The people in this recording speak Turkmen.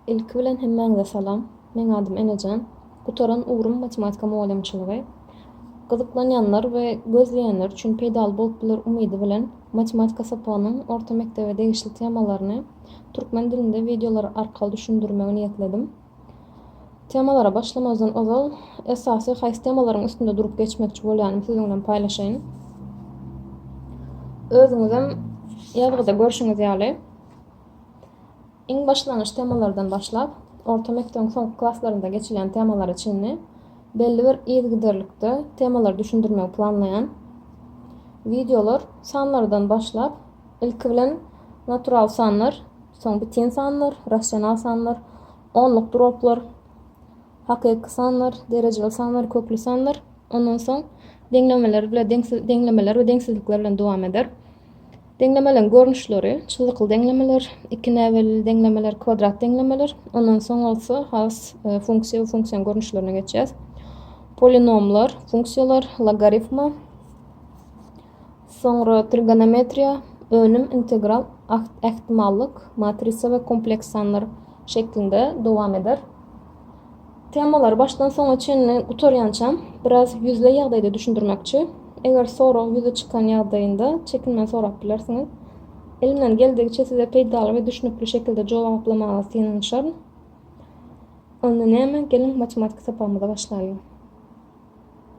Ilki bilen hemmäňize salam. Meň adym Enejan. Gutaran ugrym matematika mugallymçylygy. Gyzyklanýanlar we gözleýänler üçin peýdaly bolup biler umydy bilen matematika sapagynyň orta mekdebe degişli temalaryny türkmen dilinde wideolar arkaly düşündirmegi niýetledim. Temalara başlamazdan ozal esasy haýsy temalaryň üstünde durup geçmekçi bolýanymy siziň bilen paýlaşaýyn. Özüňizem ýazgyda görşüňiz ýaly. Iň başlangyç temalardan başlap, orta mekdebiň soňky klaslarynda geçilýän temalara çenli belli bir yzygiderlikde temalary düşündirmegi planlaýan wideolar sanlardan başlap, ilki bilen natural sanlar, soň bitin sanlar, rasional sanlar, onluk droplar, Hakyky sanlar, derejeli sanlar, kökli sanlar. Ondan soň deňlemeler bile deňsiz deňlemeler we deňsizlikler bilen dowam eder. Deňlemeleň görnüşleri, çyzykly deňlemeler, iki näbelli deňlemeler, kwadrat deňlemeler. Ondan soň bolsa has e, funksiýa we funksiýanyň görnüşlerine geçýäs. Polinomlar, funksiýalar, logarifma, Soňra trigonometriýa, önüm, integral, akt, ähtimallyk, matrisa we kompleks sanlar şeklinde dowam eder. Temalary başdan soňa çenli gutarýançam biraz ýüzleý ýagdaýda düşündirmekçi. Eger sorag ýüze çykan ýagdaýynda çekinmän sorap bilersiňiz. Elimden geldigiçe size peýdaly we düşnükli şekilde jogaplamaga synanyşaryn. Onda näme, geliň matematiki sapagymyza başlaýlyň.